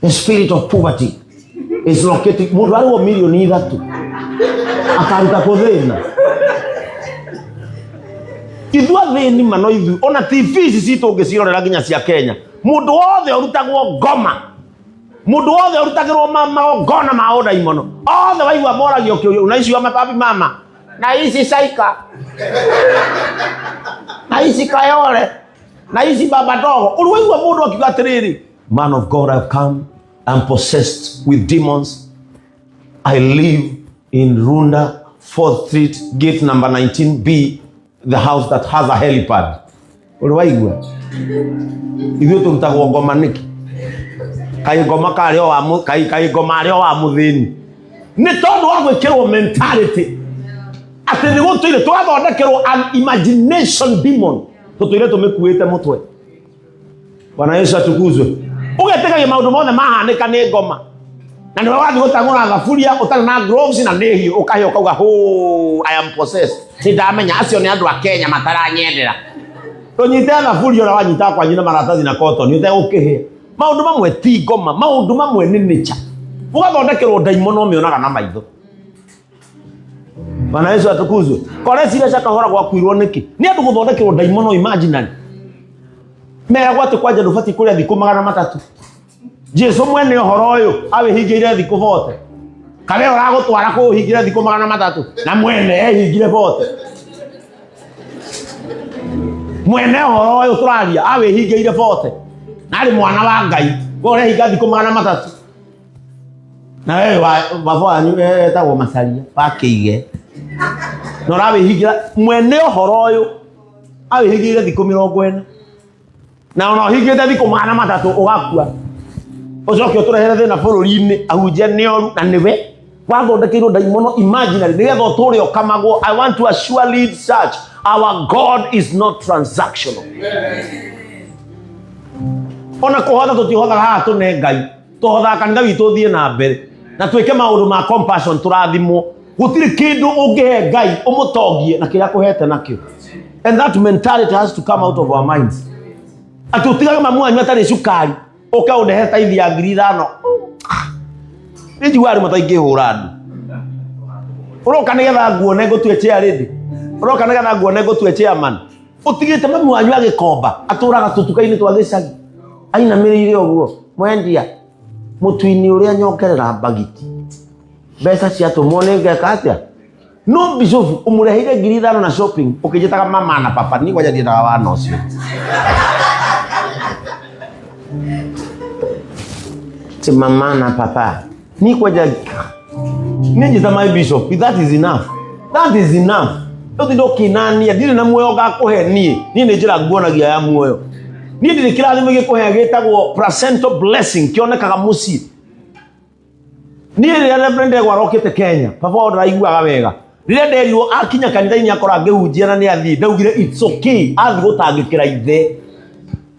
The spirit of poverty is located. Mundu arwo milioni ithatu akaruta kuthina ithua thini mano ithu ona tv ici citå ngä cirorera nginya cia kenya må ndå wothe å rutagwo ngoma må ndå wothe å rutagä rwo magongona ma å ndaimono othe waigua moragio kä å na icio mababi mama na ici caika na ici kayore na ici baba ndogo å rä waigua må ndå akiuga atä rä rä Man of God, I've come. I'm possessed with demons. I live in Runda, 4th Street, gate number 19B, the house that has a helipad. Uliwaigua? Ithuĩ tũrutagwo ngoma nĩkĩ? Kaĩ ngoma karĩ o wa mũ- kaĩ- kaĩ ngoma arĩ o wa mũthĩni. Nĩ tondũ wa gwĩkĩrwo mentality atĩ nĩ gũtũire twathondekerwo an imagination demon tũtũire tũmĩkuĩte mũtwe bwana yesu atukuzwe ugetĩkagia maũndũ mothe mahanĩka nĩ ngoma na nĩ wathiĩ gũtang'ũra thaburia ũtarĩ na gloves na nĩ hiũ ũkahĩ ũkauga hũ i am possessed nĩ ndamenya acio nĩ andũ a kenya mataranyendera tũnyite thaburia ũrĩa wanyita kwanyu na maratathi na kotoni ũtegũkĩhĩa maũndũ mamwe ti ngoma maũndũ mamwe nĩ nĩcha ũgathondekerwo ndaimono ũmĩonaga na maitho bwana yesu atukuzwe koreciria cia kahora gwakuirwo nĩkĩ nĩ andũ gũthondekerwo ndaimono imaginary meragwo atĩ kwanja ndũbatiĩ kũrĩa thikũ magana matatũ jesu mwene ũhoro ũyũ awĩhingĩire thikũ bote kana ĩyo ũragũtwara kũũhingĩre thikũ magana matatũ na mwene ehingire bote mwene ũhoro ũyũ tũraria awĩhingĩire bote na arĩ mwana wa ngai we ũrehinga thikũ magana matatũ na we wa- baba wanyu etagwo macaria wakĩige na ũrawĩhingĩra mwene ũhoro ũyũ awĩhingĩire thikũ mĩrongo ĩna na ona ũhingĩte thikũ magana matatũ ũgakua ũcoke ũtũrehere thĩna bũrũri-inĩ ahunjia nĩ oru na nĩwe wathondekeirwo ndaimono imaginary nĩgetha ũtũre ũkamagwo i want to assure lead church our god is not transactional ona kũhotha tũtihothaga haha tũne ngai tũhothaka ngai witũ ũthiĩ na mbere na twĩke maũndũ ma compassion tũrathimwo gũtirĩ kĩndũ ũngĩhe ngai ũmũtongie na kĩrĩa kũhete nakĩo and that mentality has to come out of our minds atĩ ũtigage mamu wanyu atarĩ cukari ũke ũndehe taithi ya ngiri ithano nĩ njiguaga andũ mataingĩhũra andũ ũroka nĩgetha nguone ngũtue chair lady ũroka nĩgetha nguone ngũtue chairman utigite mamu wanyu agikomba aturaga tutuka-ini twa gicagi ainamĩrĩire ũguo mwendia mũtwini ũrĩa nyongerera mbagiti mbeca ciatũmwo nĩ ngeka atĩa no bicobu ũmũreheire ngiri ithano na shopping ũkĩnjĩtaga mama na papa nĩ kwaja ndiendaga wana ũcio ti mama na papa Ni kwa ja Ni ta my bishop. That is enough. That is enough. Yo ti ndokinania ndire na muoyo ngakuhe ni. Ni ni njira nguonagia ya muoyo. Ni ndire kirathimo gikuhe gitagwo placental blessing kionekaga muci. Ni rä reverend egwa rokite Kenya. Baba ona aiguaga wega. Rä nderirwo akinya kanitha-inä akora ngä hunjia na nä athiä ndaugire it's okay athiä gå tangä kä ra ithe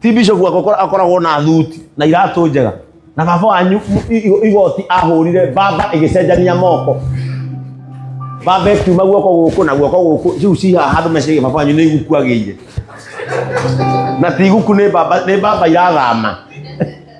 ti bishop akora- akoragwo na thuti na iratå njega na baba wanyu i- i- igoti ahå rire baba ä gä cenjania moko baba ĩkiuma guoko gå kå na guoko gå kå ciu ciha handå mecege baba wanyu nä iguku agä ire na ti iguku nä baba nĩ baba irathama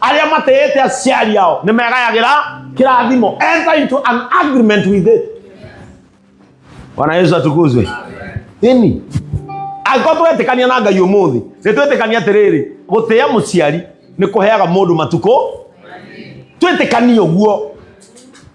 arĩa matĩĩte aciari ao nĩ megayagĩra kĩrathimo enter into an agreement with it bwana yesu atukuzwe ĩni angĩkorwo twetĩkania na ngai ũmũthĩ nĩ twetĩkania atĩrĩrĩ gũtĩa mũciari nĩ kũheaga mũndũ matukũ twetĩkanie ũguo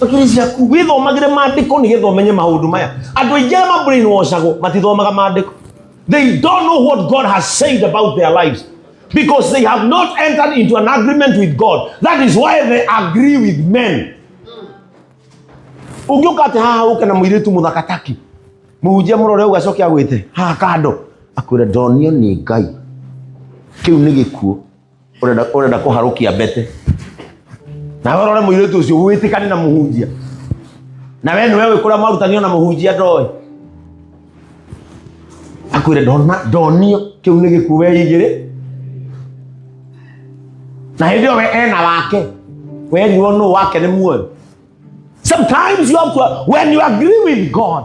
Tũkĩrĩcia ku wĩthomagĩre maandĩko nĩgetha ũmenye maũndũ maya. Andũ aingĩ arĩa mabrainwashagwo matithomaga maandĩko. They don't know what God has said about their lives because they have not entered into an agreement with God. That is why they agree with men. Ũngĩũka atĩ haha ũke na mũirĩtu mũthaka taki mũhunjia mũrore ũguo acoke agwĩte haha kando akwĩre ndonio nĩ Ngai. Kĩu nĩ gĩkuũ. urenda urenda kuharukia mbete na wewe rore muiritu ucio witikane na muhunjia na wewe niwe wikura marutanio na muhunjia ndoe akwire ndona ndonio kiu ni gikuo weigire na hindi yo we ena wake we niwo nu wake ni muoyo sometimes you have to when you agree with god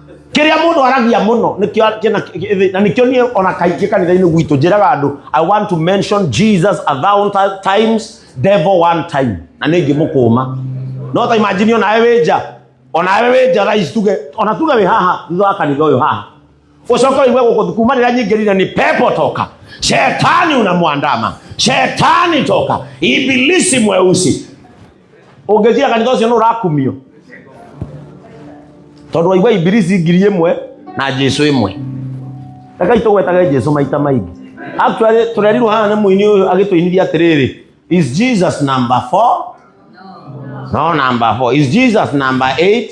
kĩrĩa mũndũ aragia mũno nĩkĩo- kĩna- kĩ- na nĩkĩo niĩ ona kaingĩ kanitha-inĩ gwitũ njĩraga andũ i want to mention jesus a thousand ti- times devil one time na nĩ ngĩmũkũma no ta imagine onawe wĩ nja onawe wĩ nja rais tuge ona tuge wĩ haha thutha wa kanitha ũyũ haha ucoka uigue gũkũ kuma rĩrĩa nyingĩrire ni pepo toka shetani unamwandama shetani toka ibilisi mweusi ũngĩciria kanitha ũcio nĩ ũrakumio tondũ waigua ibilisi ngiri ĩmwe na jesu ĩmwe rekei tũgwetage jesu maita maingĩ actually tũrerirwo haha nĩ mũini ũyũ agĩtũinithia atĩrĩrĩ is jesus number four no number four is jesus number eight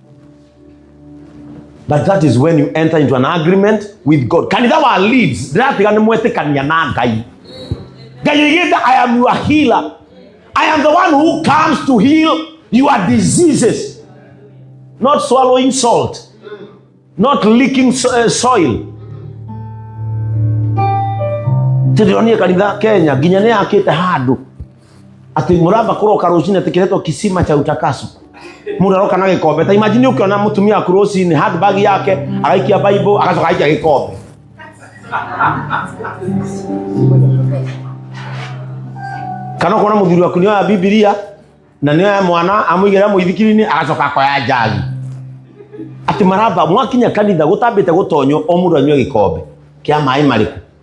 But that is when you enter into an agreement with God. Kanitha wa leads, ndĩratiga nĩ mwetĩkania na Ngai. Ngai oigĩte, I am your healer. I am the one who comes to heal your diseases. Not swallowing salt. Not licking so- eh, soil. Tĩrĩonie kanitha Kenya nginya nĩ yakĩte handũ ati muramba kuroka rucini ati kiretwo kisima cha utakaso muraroka na gikombe ta imagine ukiona mutumia waku rucini handbag yake agaikia bible agacoka agaikia gikombe kana ukona muthuri waku nioya bibilia na nioya mwana amuigera muithikiri-ini agacoka akoya njagi ati maramba mwakinya kanitha gutambite gutonyo o mundu anyue gikombe kia maĩ mariku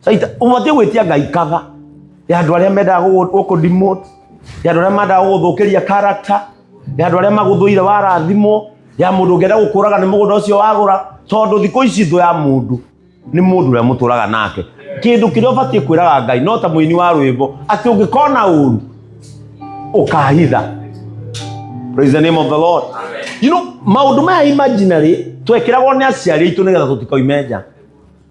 Saita, ũbatiĩ gwĩtia ngai kava ya andũ arĩa mendaga gũgũ- gũkũ demote ya andũ arĩa mendaga gũgũthũkĩria character ya andũ arĩa magũthũire warathimwo ya mũndũ ũngĩenda gũkũraga nĩ mũgũnda ũcio wagũra tondũ thikũ ici thũ ya mũndũ nĩ mũndũ ũrĩa mũtũraga nake kĩndũ kĩrĩa ũbatiĩ kwĩraga ngai no ta mũini wa rwĩmbo atĩ ũngĩkona ũru ũkahitha praise the name of the lord you know maũndũ maya imaginary twekĩragwo nĩ aciari aitũ nĩgetha tũtikoime nja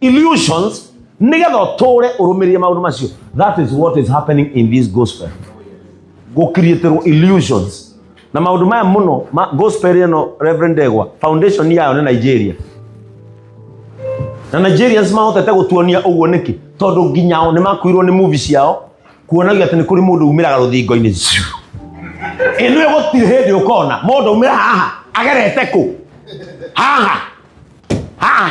illusions nigetha utore urumirie maundu macio that is what is happening in this gospel gukirieterwo illusions na maundu maya muno ma gospel ino reverend egwa foundation yayo ni nigeria na nigerians mahotete gutuonia uguo niki tondu nginyao ni makuirwo ni movie ciao kuonagia ati ni kuri mundu umiraga ruthingo-ini ziu inu gutirĩ hĩndĩ ũkona mũndũ umĩra haha agerete kũ haha haha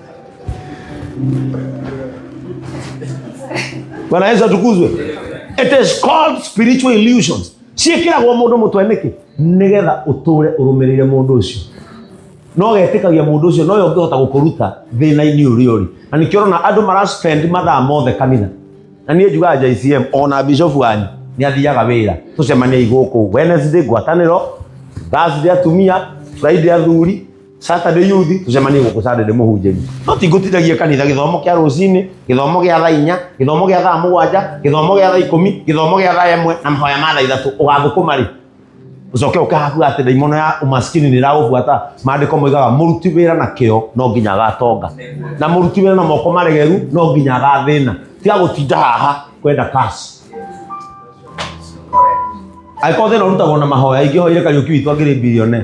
bwana yesu atukuzwe it is called spiritual illusions ciĩkĩragwo mũndũ mũtwe nĩkĩ nĩgetha ũtũre ũrũmĩrĩire mũndũ ũcio no getĩkagia mũndũ ũcio noyo ũngĩhota gũkũruta thĩna-inĩ ũrĩa ũrĩ na nĩkĩo ũrona andũ maraspend mathaa mothe kanitha na niĩ njugaga jcm ona bishofu wanyu nĩ athiaga wĩra tũcemaniei gũkũ wednesday ngwatanĩro thursday atumia friday athuri Saturday youth tucemanie gũkũ Saturday mũhunjĩri no ti ngũtithagia kanitha gĩthomo kĩa rũcinĩ gĩthomo gĩa thaa inya gĩthomo gĩa thaa mũgwanja gĩthomo gĩa thaa ikũmi gĩthomo gĩa thaa ĩmwe na mahoya ma thaa ithatũ ũgathũkũma rĩ ucoke ukahakuga atä ndaimono ya umaskini nä ragåbuata maandä ko moigaga må ruti wä ra na kä o no nginya agatonga na må ruti wä ra na moko maregeru no nginya agathä na tiga gå tinda haha kwenda kasi angä korwo thä na å rutagwo na mahoya ingä hoire kariå ki witå angä rä mbilione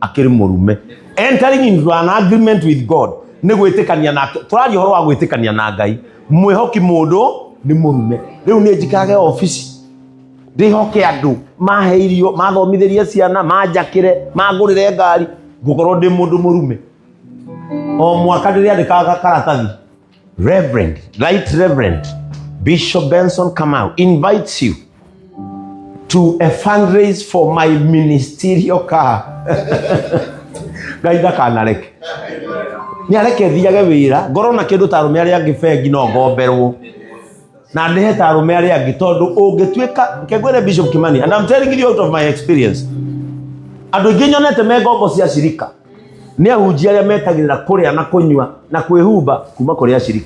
akĩrĩ mũrume entering into an agreement with god nĩ gwĩtĩkania nake tũraria ũhoro wa gwĩtĩkania na ngai mwĩhoki mũndũ nĩ mũrume rĩu nĩ njikarage obici ndĩhoke andũ mahe irio mathomithĩrie ciana manjakĩre mangũrĩre ngari ngũkorwo ndĩ mũndũ mũrume o mwaka ndĩrĩandĩkaga karatathi Reverend, Right Reverend Bishop Benson Kamau invites you to a fundraise for my ministerial car. Ngai ndakanareke. Nĩ areke thiage wĩra, ngorwo na kĩndũ ta arũme arĩa angĩ bengi no ngomberwo. Na ndĩhe ta arũme arĩa angĩ tondũ ũngĩtuĩka kengwĩre Bishop Kimani and I'm telling you out of my experience. Andũ aingĩ nyonete me ngombo cia shirika nĩ ahunjia arĩa metagĩrĩra kũrĩa na kũnyua na kwĩhumba kuma kũrĩ ashirika